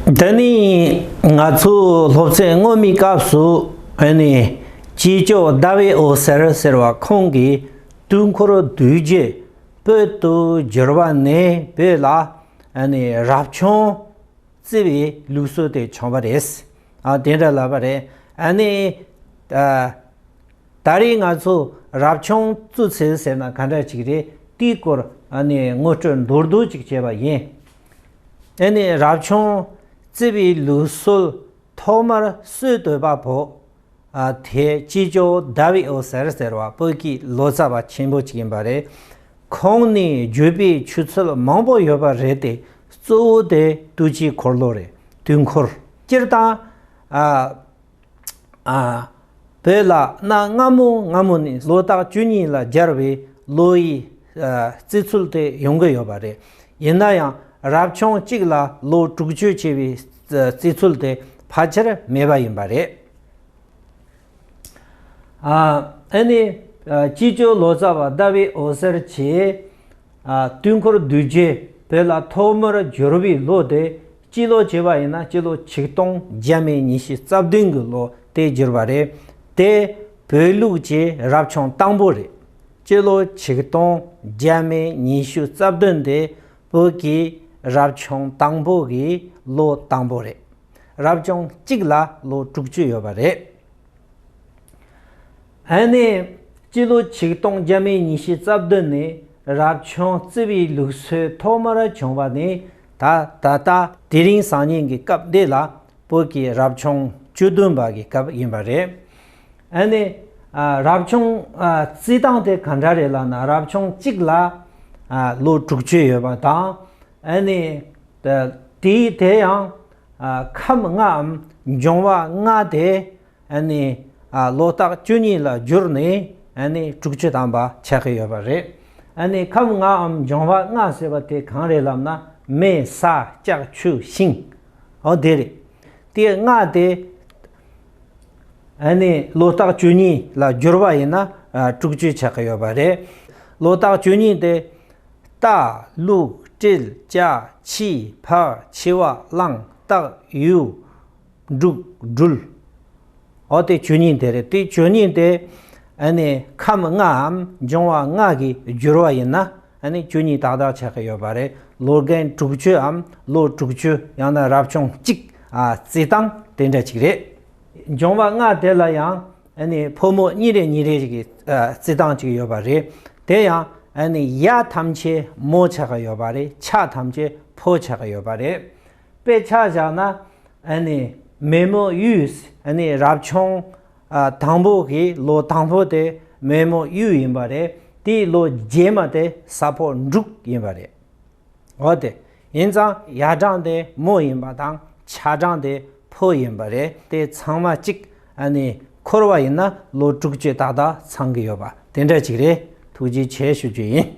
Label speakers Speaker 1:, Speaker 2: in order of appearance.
Speaker 1: འདི་ནི་ང་ཚོའི་སློབ་ཚན་སྔོན་མའི་སྐབས་སུ་ཨོ་ནི་ཅི་ཅོ་ཟླ་བའི་འོད་ཟེར་ཟེར་བ་ཁོང་གིས་དུས་འཁོར་བསྡུས་རྒྱུ་བོད་དུ་བསྒྱུར་བ་ནས་བོད་ལ་ཨོ་ནི་རབ་བྱུང་བརྩི་བའི་ལུགས་སྲོལ་དེ་བྱུང་བ་རེད། ཨ་དེ་འདྲ་ལབ་པ་རེད་ཨོ་ནི། ད་རེས་ང་ཚོས་རབ་བྱུང་བཙུགས་ཚེ་ཟེར་ན་ག་འདྲ་ཞིག་རེད་དེའི་སྐོར་ཨོ་ནི་ངོ་སྤྲོད་མདོར་བསྡུས་ཅིག་བྱས་པ་ཡིན། ནས་རབ་བྱུང་བརྩེ་བའི་ལུས་གསོལ། ཐོག་མར་གསོལ་བསྟོད་པ་པོ། དེ་ཅི་ཇོ་དཱ་བི་ཨོ་ཟེར་ཟེར་བ་བོད་ཀྱི་ལོ་ཙཱ་བ་ཆེན་པོ་གཅིག་ཡིན་པ་རེད། ཁོང་ནི་བརྒྱུད་པའི་ཆུ་ཚོད་མང་པོ་ཡོད་པ་རེད་དེ་གཙོ་བོ་དེ་བདུད་ཀྱི་འཁོར་ལོ་རེད་དུས་འཁོར་སྤྱིར་བཏང། བོད་ལ་གནའ་སྔ་མོ་སྔ་མོ་ནས་ལོ་རྟགས་བཅུ་གཉིས་ལ་སྦྱར་བའི་ལོ་ཡི་བརྩི་ཚུལ་དེ་ཡོང་གི་ཡོད་པ་རེད། ཡིན་ན་ཡང་རབ་བྱུང་གཅིག་ལ་ལོ་དྲུག་བཅུ་ཅེས་པའི་བརྩི་ཚུལ་དེ་ཕལ་ཆེར་མེད་པ་ཡིན་པ་རེད། ཨ་ནི་སྤྱི་ཆོས་ལོ་ཙཱ་བ་ཟླ་བའི་འོད་ཟེར་གྱིས་དུས་འཁོར་བསྡུས་རྗེས་བོད་ལ་ཐོག་མར་བསྒྱུར་བའི་ལོ་དེ་སྤྱི་ལོ་བརྗེས་པ་ཡིན་ན་སྤྱི་ལོ་ཆིག་སྟོང་བརྒྱད་མེད་ཉིས་བཞི་རྩ་བདུན་གྱི་ལོ་སྟེ་བསྒྱུར་བ་རེད། དེ་བོད་ལུགས་ཀྱི་རབ་བྱུང་སྟངས་བུ་རེད། སྤྱི་ལོ་ཆིག་སྟོང་བརྒྱད་མེད་ཉི་ཤུ་རྩ་བདུན་དེ་བོད་ཀྱི་རབ་བྱུང་སྟངས་བུ་གྱི་ལོ་སྟངས་བུ་རེད། རབ་བྱུང་གཅིག་ལ་ལོ་དྲུག་ཅུ་ཡོད་པ་རེད། ཧན་ནས་སྤྱི་ལོ་ཆིག་སྟོང་བརྒྱད་མའི་ཉི་ཤུ་རྩ་བདུན་ནས་རབ་བྱུང་བརྩི་བའི་ལུགས་སྲོལ་ཐོག་མར་བྱུང་བ་ནི་ད་ད་ལྟ་དེ་རིང་སང་ཉིན་གྱི་སྐབས་འདི་ལ་བོད་ཀྱི་རབ་བྱུང་བཅུ་བདུན་པ་གྱི་སྐབས་ཡིན་པ་རེད། ཨ་ནི། རབ་བྱུང་བརྩི་སྟངས་དེ་ག་འདྲ་རེད་ལ་ན་རབ་བྱུང་གཅིག་ལ་ལོ་དྲུག་ཅུ་ཡོད་པ་དང་ཨ་ནི། དེའི་དེ་ཡང་ཁམས་ལྔའམ་འབྱུང་བ་ལྔ་དེ། ལོ་རྟགས་བཅུ་གཉིས་ལ་བསྒྱུར་ནས་དྲུག་ཅུ་དམ་པ་ཆགས་ཀྱི་ཡོད་པ་རེད། ཁམས་ལྔའམ་འབྱུང་བ་ལྔ་ཟེར་བ་དེ་གང་རེད་ལབ་ན་མེ་ས་ལྕགས་ཆུ་ཤིང། འོ་དེ་རེད། དེ་ལྔ་དེ་ལོ་རྟགས་བཅུ་གཉིས་ལ་བསྒྱུར་བ་ཡིན་ན་དྲུག་ཅུ་ཆགས་ཀྱི་ཡོད་པ་རེད། ལོ་རྟགས་བཅུ་གཉིས་དེ། རྟ། ལུག། སྤྲེལ། བྱ། ཕྱི། ཕག། འཆི་བ། གླང། སྟག། ཡུལ། འབྲུག། སྦྲུལ། ཨོ་དེ་ཆོས་ཉིད་དེ་རེད་དེ་ཆོས་ཉིད་དེ། ནི་ཁམས་ལྔ་འམ་འབྱུང་བ་ལྔ་གི་སྦྱོར་བ་ཡིན། ནི་ཆོས་ཉིད་དག་དག་ཆགས་ཀྱི་ཡོད་པ་རེད་ལོ་རྒན་དྲུག་ཅུ་འམ་ལོ་དྲུག་ཅུ་ཡང་ན་རབ་བྱུང་གཅིག་བརྩི་སྟངས་དེ་འདྲ་ཅིག་རེད། འབྱུང་བ་ལྔ་དེ་ལ་ཡང། ནི་ཕོ་མོ་གཉིས་རེ་གཉིས་རེ་ཞིག་གི་བརྩི་སྟངས་ཅིག་ཡོད་པ་རེད། དེ་ཡང། ནི་གཡའ་ཐམས་ཅད་མོ་ཆགས་ཀྱི་ཡོད་པ་རེད་ཕྱག་ཐམས་ཅད་ཕོ་ཆགས་ཀྱི་ཡོད་པ་རེད། དཔེ་ཆ་བཞག་ན་མེས་མོ་གཡུའི་རབ་བྱུང་དང་པོ་གི་ལོ་དང་པོ་དེ་མེས་མོ་གཡུ་ཡིན་པ་རེད་དེའི་ལོ་རྗེས་མ་དེ་ས་ཕོ་འབྲུག་ཡིན་པ་རེད། འོ་དེ་ཡིན་ཙང་ཡར་གྲངས་དེ་མོ་ཡིན་པ་དང་ཕྱག་གྲངས་དེ་ཕོ་ཡིན་པ་རེད་དེ་ཚང་མ་གཅིག་འཁོར་བ་ཡིན་ན་ལོ་དྲུག་ཅུ་ཏག་ཏག་ཚང་གི་ཡོད་པ་དེ་འདྲ་ཅིག་རེད་ཐུགས་རྗེ་ཆེ་ཞུ་རྒྱུ་ཡིན།